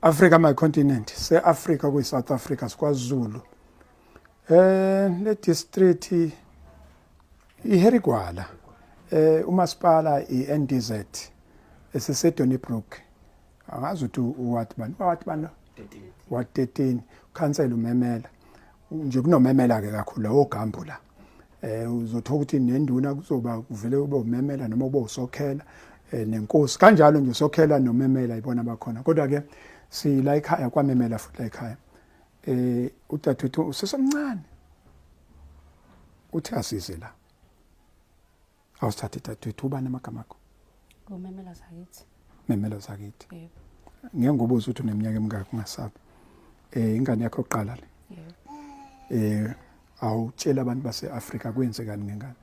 Africa my continent se Africa kuyi South Africa sikwazulu eh le district iHerigwala eh umasipala iNDZ esiseDonnybrook angazi ukuthi uwathi bani wathi bani wa 13 council umemela nje kunomemela ke kakhulu lawo gambo la eh uzothola ukuthi nenduna kuzoba kuvele ube umemela noma ube usokhela eh, nenkosi kanjalo nje usokhela nomemela ibona bakhona kodwa ke sila ekhaya kwamemela futhi la ekhaya eh udadewethu usesemncane uthi asize la Awusithathe dadewethu ubani amagama akho? Ngumemelo zakithi. Memelo zakithi. Yebo. Ngeke ngobuza ukuthi uneminyaka emingaki ungasabi. Eh ingane yakho oqala le. Yebo. Eh awutshela abantu base-Afrika kwenzekani ngengane?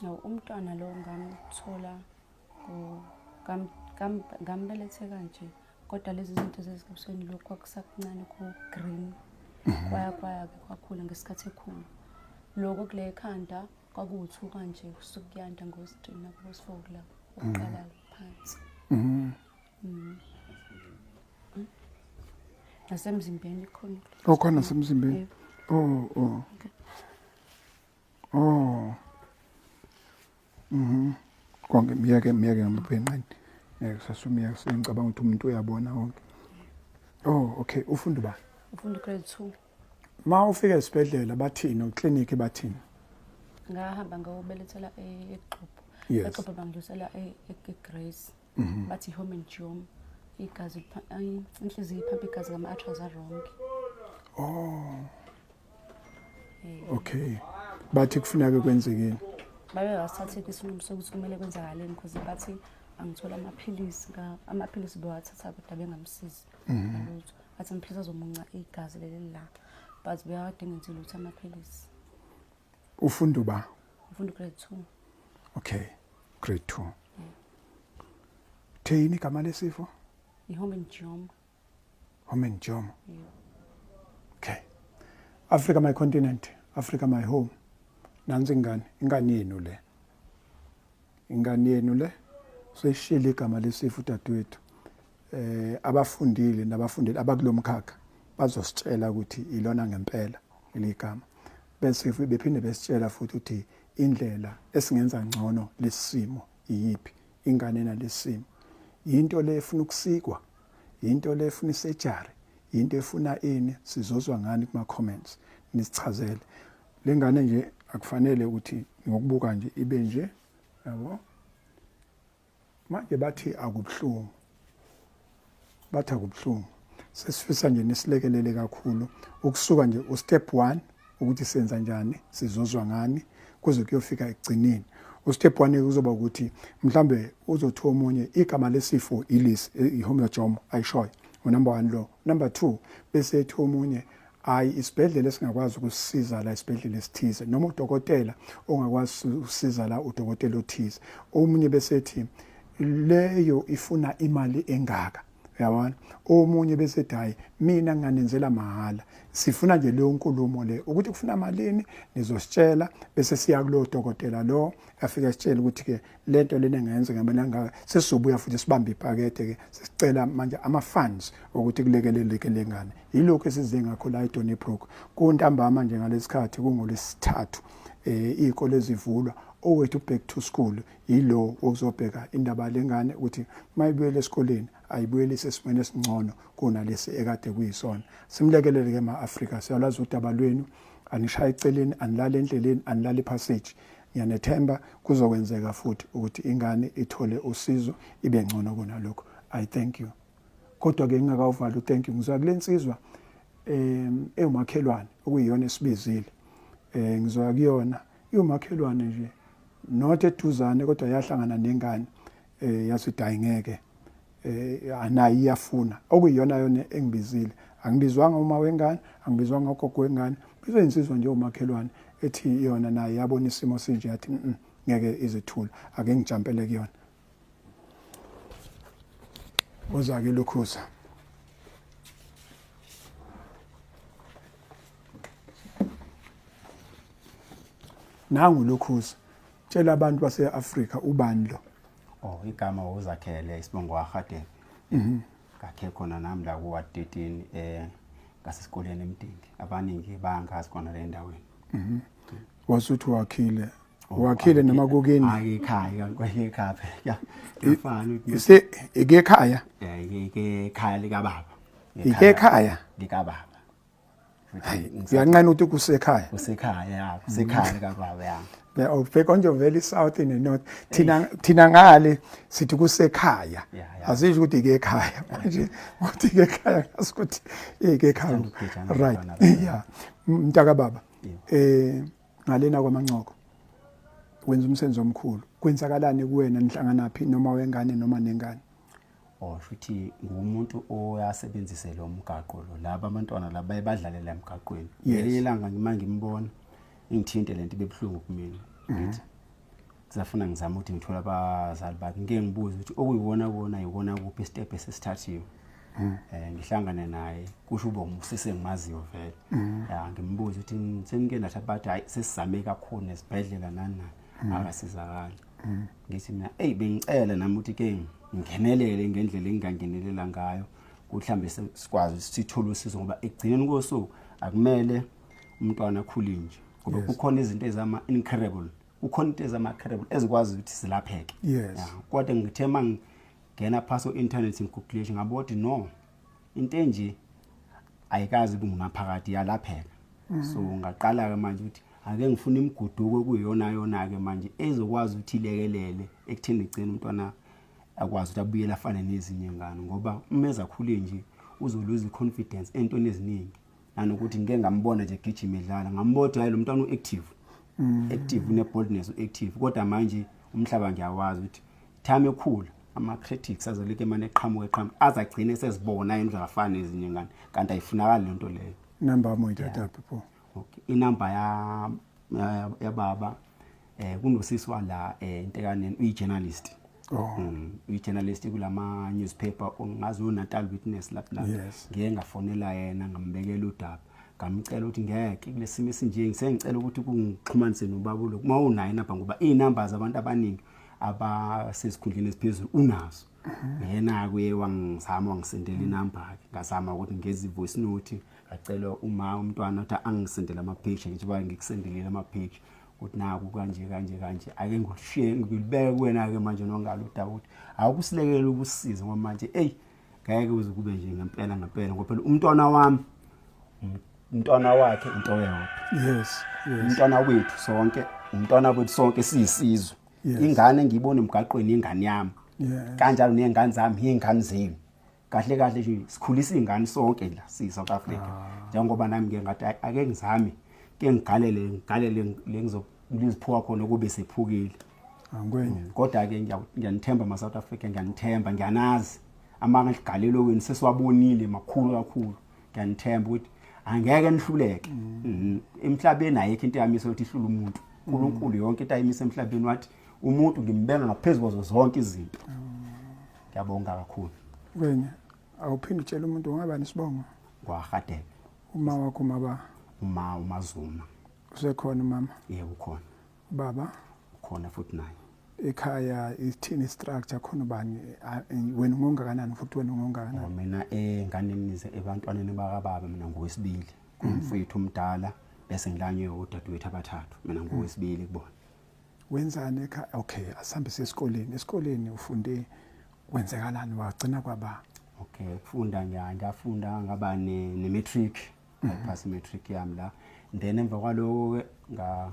No, umntwana lo ngamthola ngambelethe kanje kodwa lezi zinto zezikabusweni lokhu kwakusakuncane ku-green mhm. kwaya kwaya-ke kwakhula ngesikhathi ekhulu loko kule khanda kwakuwuthuka nje kusuke kuyanda ngositrini nakubosifokula ukuqala phansi mhm. mhm. nasemzimbeni khona okhona oh, nasemzimbeni o oh, o oh. o mhm konke miyeke miyeke ngamabhenqeni ngeke sasumiyeke sengicabanga ukuthi umuntu uyabona konke oh okay ufunda ba ufunda grade 2 ma ufika esibhedlela bathini oklinikhi bathini ngahamba ngawubelethela e-, egxubho egxubho bangidlulisela e-, e-, egrace mhm. bathi home and jom igazi inhliziyo iphampa igazi ngama-atras aronke oh okay bathi kufuneka kwenzekeni babe basithathile isinqumo sokuthi kumele kwenzakaleni because bathi angithola amaphilisi amaphilisi bewathatha kodwa bengamsizi mhm. ngalutho athi amaphilisi azomunca igazi leli la but beyawadinga nje lutho amaphilisi ufunda uba ufunda grade 2 okay grade 2 yeah. theyini igama lesifo ihomengioma homengioma yeah. okay africa my continent africa my home nansi ingane ingane yenu le Ingane yenu le seyishilo igama lesifu dadwethu. Eh abafundile nabafundile abakulomkhakha bazositshela ukuthi ilona ngempela leligama. Bese futhi bephinde besitshela futhi ukuthi indlela esingenza ngcono lesimo iyiphi ingane nalesimo. Yinto le efuna ukusikwa, yinto le efuna isejari, yinto efuna ini sizozwa ngani kuma comments nisichazele. le ngane nje akufanele ukuthi ngokubuka nje ibe nje yabo manje bathi akubuhlungu bathi akubuhlungu sesifisa nje nisilekelele kakhulu ukusuka nje ustep 1 ukuthi senza njani sizozwa ngani kuze kuyofika ekugcineni ustep 1 kuzoba ukuthi mhlambe uzothiwa omunye igama lesifo ilis ihomojom ayishoyo unumber 1 lo number 2 bese ethiwa omunye hayi isibhedlela esingakwazi ukusisiza la isibhedlela esithize noma udokotela ongakwazi ukusiza la udokotela othize omunye besethi leyo ifuna imali engaka yabona omunye bese dayi mina nganenzela mahhala sifuna nje leyo nkulumo le ukuthi kufuna malini nizositshela bese siya kulo dokotela lo afike sitshele ukuthi ke le nto lena engayenza ngamele angaka sesizobuya futhi sibambe ipakethe ke sesicela manje ama funds ukuthi kulekeleleke lengane yilokho esize ngakho la eDonny Brook kuntambama nje ngalesikhathi kungolesithathu eh izikole zivulwa owethu back to school yilo okuzobheka indaba lengane ukuthi mayibuyele esikoleni ayibuyelise esimweni esingcono kunalesi ekade kuyisona simlekelele ke ma-afrika siyalazi udaba lwenu anishaye eceleni anilale endleleni anilale ipassage Ngiyanethemba kuzokwenzeka futhi ukuthi ingane ithole usizo ibe ngcono kunalokho. I thank you. Kodwa ke ngingakawuvali thank you ngizwa kulensizwa em ewumakhelwane okuyiyona esibizile. Eh ngizwa kuyona iwumakhelwane nje not eduzane kodwa yahlangana nengane eh yathi dayi ngeke eh anayi iyafuna okuyiyona yona engibizile angibizwanga uma wengane angibizwanga ugogo wengane bizwe insizwa nje umakhelwane ethi yona naye yabona isimo sinje yathi ngeke izithula ake ngijampele kuyona uza ke lukhuza nangu lukhuza Tshela abantu base-Afrika ubani lo. Oh igama uzakhele isibongo waHadebe. Mhm. Kakhe khona nami la kuwa 13 eh ngasesikoleni emdingi. Abaningi bangazi khona le ndaweni. Mhm. Wasuthi wakhile. Oh, wakhile noma kokini? Hayi ekhaya kanti ekhaya phela. Ifana. Ise ekhaya? Eh ekhaya lika baba. Ike ekhaya? Lika baba. uyanqena ukuthi kusekhaya kusekhaya ya kusekhaya mm. kababa ya ya ubheka oh, nje vele south in the north thina thina ngale sithi kusekhaya azisho ukuthi ke ekhaya manje ukuthi ke ekhaya ngasukuthi ke ekhaya right ya mntaka baba eh ngalena kwamancoko wenza umsebenzi omkhulu kwenzakalani kuwena nihlanganaphi noma wengane noma nengane or shuthi ngumuntu oyasebenzise lo mgaqo lo laba abantwana laba baye badlale la mgaqweni ngelinye ilanga ngima ngimbona ingithinte lento ibebuhlungu kumina mhm. ngithi kusafuna ngizama ukuthi ngithola abazali bakhe ngike ngibuze ukuthi okuyiwona kona yiwona kuphi isitebhu esesithathiwe mhm. eh ngihlangane naye kusho uba umusise ngimaziyo vele mhm. ya ngimbuze ukuthi senike natha bathi hayi sesizame kakhulu nesibhedlela nani nani akasizakali ngithi mina eyi bengicela nami ukuthi ke ngingenelele ngendlela engingangenelela ngayo ukuthi mhlawumbe sikwazi sithole usizo ngoba ekugcineni kosuku akumele umntwana akhule nje ngoba kukhona izinto ezama-incurable kukhona into ezama-incurable ezikwazi ukuthi zilapheke kodwa ngithe uma ngingena phasi o-inthanethi ngigugulishe ngabo ukuthi no into enje ayikazi kungunaphakade yalapheka mm. so ngaqala-ke manje ukuthi ake ngifuna imiguduko kuyiyona yona-ke manje ezokwazi ukuthi ilekelele ekutheni igcine umntwana akwazi ukuthi abuyele afane nezinye ngane ngoba uma ezakhule nje uzoluza i-confidence entweni eziningi nanokuthi ngike ngambona nje gijima edlala ngambona ukuthi hayi lo mntwana u-active mm. active une-boldness u-active kodwa manje umhlaba ngiyawazi ukuthi time ekhula ama-critics azolike mane eqhamuka eqhamuka aze agcine sezibona yena uzafana ezinye ngane kanti ayifunakali le nto leyo number yam uyithatha phi pho okay inumber yababa eh kunosisi wala eh intekaneni uyi journalist oh mm, uyi journalist kulama newspaper ongazi u Natal Witness lapha la ngeke ngafonela yena ngambekela udaba ngamcela ukuthi ngeke kulesimo esinje ngisengicela ukuthi kungixhumanise nobaba lo uma unayo inamba ngoba izinamba zabantu abaningi abasesikhundleni esiphezulu unazo mhm. yena kuye wangizama wangisendela inamba ke ngazama ukuthi ngezi voice note ngacela uma umntwana ukuthi angisendele ama page njengoba ngikusendelile ama page ukuthi naku kanje kanje kanje ake ngikushiye ngilibeke kuwena-ke manje nongalo udaba ukuthi awukusilekele ukusiza ngoba manje eyi ngeke uze kube nje ngempela ngempela ngoba phela umntwana wami umntwana wakhe into yodwa yes umntwana wethu sonke umntwana wethu sonke siyisizwe ingane ngiyibona emgaqweni ingane yami kanjalo ney'ngane zami yiy'ngane zenu kahle kahle nje sikhulisa izingane sonke la si South Africa ah. njengoba nami ngeke ngathi ake ngizame ke ngigalele ngigalele lengizophuka khona kube sephukile angikwenye mm, kodwa ke ngiyanithemba ma South Africa ngiyanithemba ngiyanazi amanga ligalelo wenu sesiwabonile makhulu kakhulu ngiyanithemba ukuthi angeke nihluleke mm. mm-hmm. emhlabeni ayikho into yamisa ukuthi ihlula umuntu mm. uNkulunkulu yonke into ayimisa emhlabeni wathi umuntu ngimbenga ngaphezulu kwazo zonke izinto Ngiyabonga kakhulu. Wena awuphinde utshela umuntu ungaba nesibongo. Kwahadebe. Uma wakho maba. Uma umazuma. Usekhona mama? Yebo ukhona. Baba? Ukhona futhi naye. ekhaya ithini structure khona ubani wena ungongakanani futhi wena ungongakanani oh, mina enganeni nize ebantwaneni bakababa mina ngowesibili kumfowethu omdala bese ngilanywe udadewethu abathathu mina ngowesibili kubona wenzani ekhaya okay asihambise esikoleni esikoleni ufunde kwenzekalani wagcina kwaba okay ukufunda nje ngafunda ngaba ne, ne matric mhm. ngaphasa mm -hmm. matric yami la then emva kwaloko ke nga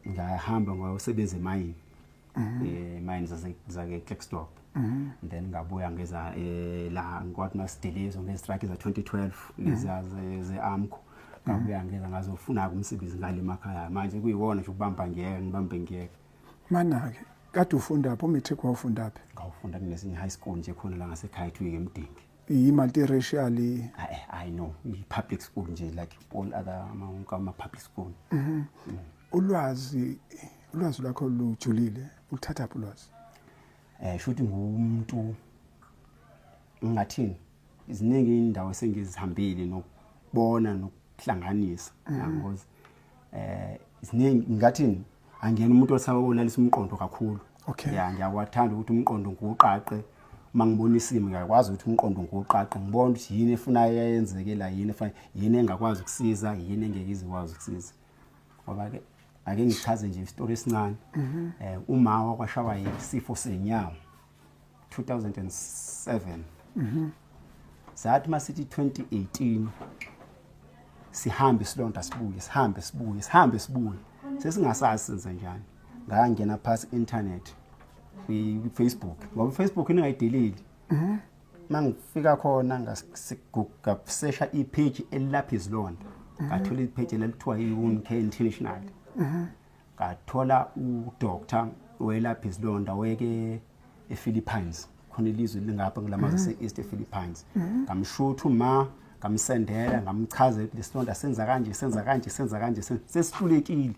ngahamba ngosebenza emayini mm -hmm. eh mayini zake Cleckstop Mhm. then ngabuya ngeza eh, la ngikwathi masidilizo ngezitraki za-2012 mhm. leza ze-amco mhm. ngabuya ngeza ngazofuna-ke umsebenzi ngale emakhaya manje kuyiwona nje ukubamba ngiyeke ngibambe ngiyeke mana-ke kade ufundaphi umatric wawufundaphi ngawufunda kunesinye high school nje khona la ngasekhaya kuthiwa ngemdingi yi-multiracial i know i-public school nje like all other ama-public school mm. ulwazi ulwazi lwakho lujulile uluthathaphi ulwazi eh shuthi ngumuntu ngingathini iziningi indawo esengizihambile nokubona nokuhlanganisa mm. yangozi eh iziningi ngingathini angiyena umuntu osawonalisa umqondo kakhulu okay ya ngiyawathanda ukuthi umqondo ngiwuqaqe uma ngibona isimo ngiyakwazi ukuthi umqondo ngiwuqaqe ngibona ukuthi yini efuna yayenzekela yini efuna yini engakwazi ukusiza yini engeke izikwazi ukusiza ngoba ke ake ngichaze nje isitori esincane mhm. eh uma wakwashawa yisifo senyawo 2007 mhm sathi masithi 2018 sihambe silonda sibuye sihambe sibuye sihambe sibuye sesingasazi senze njani ngangena phasi internet kwi Facebook ngoba Facebook ingayideleli mhm. mangifika khona ngasiguga sesha ipage elilapha izilonda mhm. ngathola ipage lelithiwa iwound care international mhm. ngathola udoctor welapha izilonda weke ephilippines khona ilizwe lingapha ngilamazwe mhm. se-east ephilippines ngamshutha uma ngamsendela ngamchaza ukuthi lesilonda senza kanje senza kanje senza kanje sesihlulekile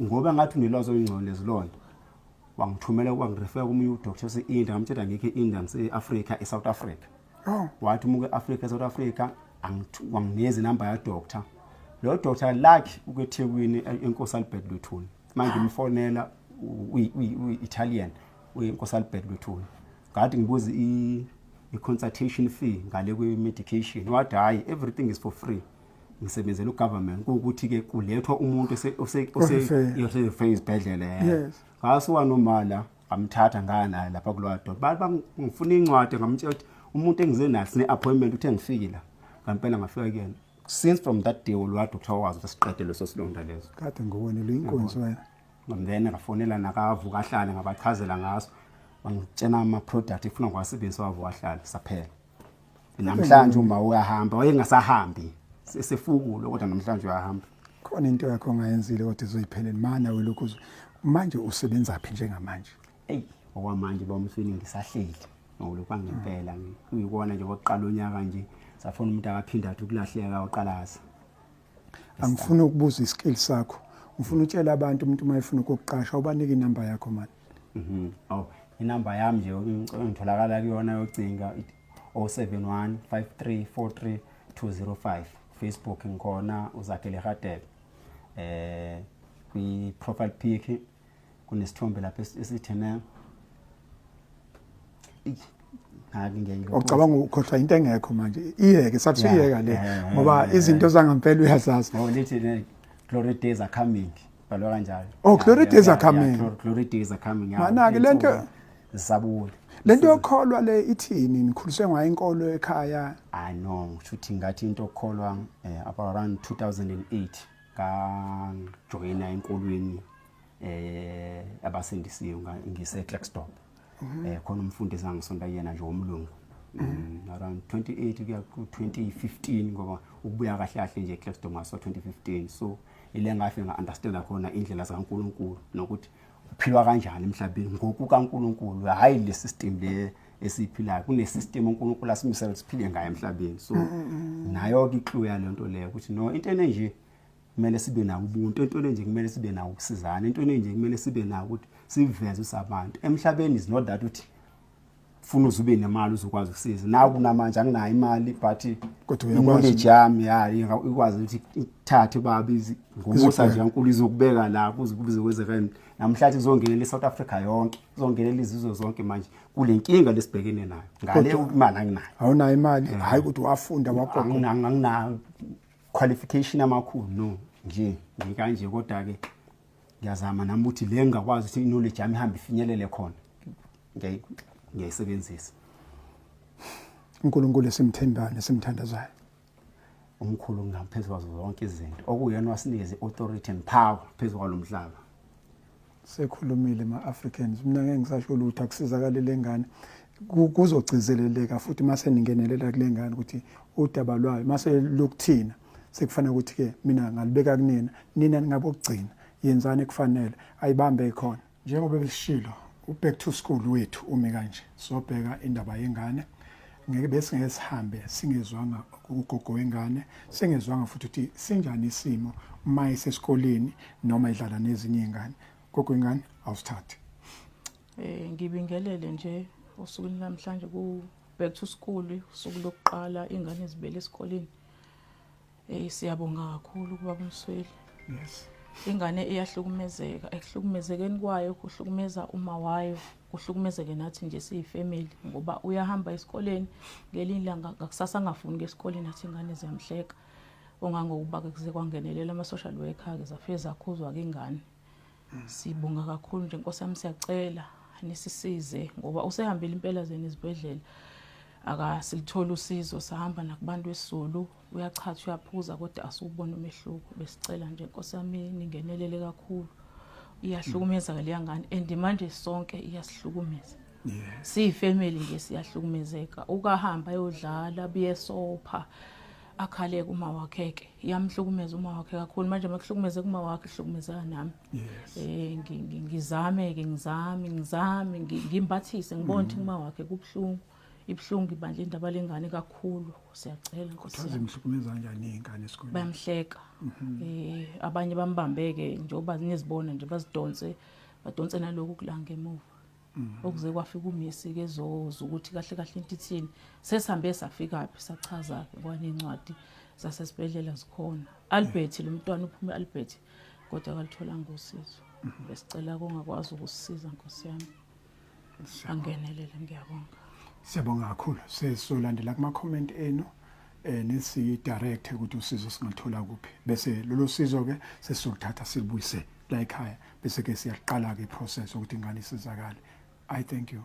ngoba ngathi unelwazi olungcono lezilonda wangithumela wangirefera komunye udoctor ose-india ngamtshela ngikho e-india ngise-afrika e-south africa oh. wathi umuke e-afrika e-south africa wanginikeza inamba yadoctor lo doctor lakhe ukwethekwini enkosi albert luthuni manje ah. ngimfonela uyi-italian uyenkosi albert luthuni ngathi ngibuze i-consultation fee ngale kwe-medication wathi hhayi everything is for free ngisebenzela ugovernment kuwukuthi ke kulethwa umuntu oseyofika izibhedlela yena ngasuka nomala ngamthatha ngaya naye lapha kulowa doda bathi bangifuna incwadi ngamtshela ukuthi umuntu engize naye sine-appointment uthe ngifike la ngampela ngafika kuyena since from that day lowa doctor wazi ukuthi siqede leso silonda leso kade ngowena luyinkunzi wena then ngafonela nakavuka ahlale ngabachazela ngaso bangitshena ama-product efuna ngiwasebenzisa wavuka ahlale saphela namhlanje uma uyahamba wayengasahambi sesefukulo kodwa namhlanje uyahamba khona into yakho ongayenzile kodwa izoyiphelele mana welokhu manje usebenza phi njengamanje eyi okwamanje ba umfini ngisahleli ngokulokhu angempela ngiyikona nje kokuqala unyaka nje safuna umuntu akaphinda athi ukulahleka waqalaza angifuni ukubuza iskill sakho ngifuna utshela abantu umuntu uma efuna ukukuqasha ubanike inamba yakho mani mhm. aw inamba yami nje ngitholakala kuyona yocinga 071 5343 205 facebook ngikhona uzakhele hadebe eh kwi-profile pic kunesithombe lapha esithi ne ocabanga ukhohlwa into engekho manje iyeke sathi iyeka le ngoba izinto zangampela uyazazi oh, glory days are coming balwa kanjalo oh glory days are coming glory days are coming mana ke lento zisabuya lento yokholwa le ithini nikhuliswe ngayo inkolo ekhaya i know ngisho ukuthi ngathi into okholwa eh, about around 2008 ngajoyina enkolweni eh abasindisiwe ngise Clackstop mhm. eh khona umfundisi angisonta yena nje omlungu mhm. mm, around 28 kuya ku 2015 ngoba ukubuya kahle kahle nje Clackstop ngaso 2015 so ile ngafe nga understand khona indlela zikaNkuluNkulu nokuthi kuphilwa kanjani emhlabeni ngokukaNkulunkulu hayi le system le esiphilayo kune system uNkulunkulu asimisela siphile ngayo emhlabeni so mm, mm, mm. nayo ke clue yale nto leyo ukuthi no into enje kumele sibe nawo ubuntu into enje kumele sibe nawo ukusizana into enje kumele sibe nawo ukuthi siveze usabantu emhlabeni is not that uthi funa uze ube nemali uzokwazi ukusiza nawe kunamanje anginayo imali but kodwa uyakwazi yami hayi ikwazi ukuthi ithathe babi ngomusa nje kankulu izokubeka la kuze kubize kwenzeka namhlanje izongenela iSouth Africa yonke izongenela izizwe zonke manje kulenkinga lesibhekene nayo ngale imali anginayo awunayo imali eh. hayi ukuthi wafunda wagogo anginayo qualification amakhulu no nje ngikanje kodwa ke ngiyazama nami ukuthi le ngingakwazi ukuthi knowledge yami ihambe ifinyelele khona ngiyayisebenzisa uNkulunkulu esimthembayo nesimthandazayo umkhulu ngaphezu kwazo zonke izinto okuyena wasinikeza i-authority and power phezu kwalo mhlaba sekhulumile ma-africans mina ngeke ngisasho lutho akusizakale le ngane kuzogcizeleleka futhi uma seningenelela kule ngane ukuthi udaba lwayo uma selukuthina sekufanele ukuthi ke mina ngalibeka kunina nina ningabokugcina yenzani ekufanele ayibambe ikhona njengoba belishilo uback to school wethu umi kanje sobheka indaba yengane ngeke bese ngeke sihambe singezwanga ugogo wengane singezwanga futhi ukuthi sinjani isimo uma isesikoleni noma idlala nezinye izingane gogo wengane awusithathe eh ngibingelele nje usuku namhlanje ku back to school usuku lokuqala ingane zibele esikoleni Hey siyabonga kakhulu kubaba Msweli. Yes. Ingane iyahlukumezeka, ekuhlukumezekeni kwayo kuhlukumeza uma wayo, kuhlukumezeke nathi nje siyifamily ngoba uyahamba esikoleni ngelinye ilanga ngakusasa angafuni ngesikoleni athi ingane ziyamhleka. Ongangokuba ke kuze kwangenelela ama social worker ke zafike zakhuzwa ke ingane. Mm. Sibonga kakhulu nje Nkosi yami siyacela nisisize ngoba usehambile impela zeni izibhedlela akasilithola usizo sahamba nakubantu esizulu uyachatha uyaphuza kodwa asubona umehluko besicela nje Nkosi yami ningenelele kakhulu iyahlukumeza ke leyangane and manje sonke iyasihlukumeza siyifamily nje siyahlukumezeka ukahamba yodlala buyesopha akhale kuma wakhe ke yamhlukumeza uma wakhe kakhulu manje makuhlukumeze kuma wakhe hlukumezeka nami eh ngizame ke ngizame ngizame ngimbathise ngibona ukuthi mm. kuma wakhe kubhlungu ibhlungu ibandla indaba lengane kakhulu siyacela nkosi kodwa zimhlukumeza kanjani ingane esikoleni bayamhleka mhm. eh abanye bambambeke njengoba nizibona nje bazidonse badonse naloku kulanga emuva Mm. okuze kwafika umisi ke zoza ukuthi kahle kahle into ithini sesihambe safikaphi sachaza-ke kwanencwadi zasesibhedlela zikhona albert lo mntwana uphume albert kodwa akalitholanga usizo mm-hmm. besicela kongakwazi ukusisiza nkosi yami angenelele ngiyabonga siyabonga kakhulu sesolandela kuma-comment enu eh nisidirect ukuthi usizo singathola kuphi bese lolu sizo ke sesizokuthatha silubuyise la ekhaya bese ke siyaqala ke process ukuthi ingane isizakale i thank you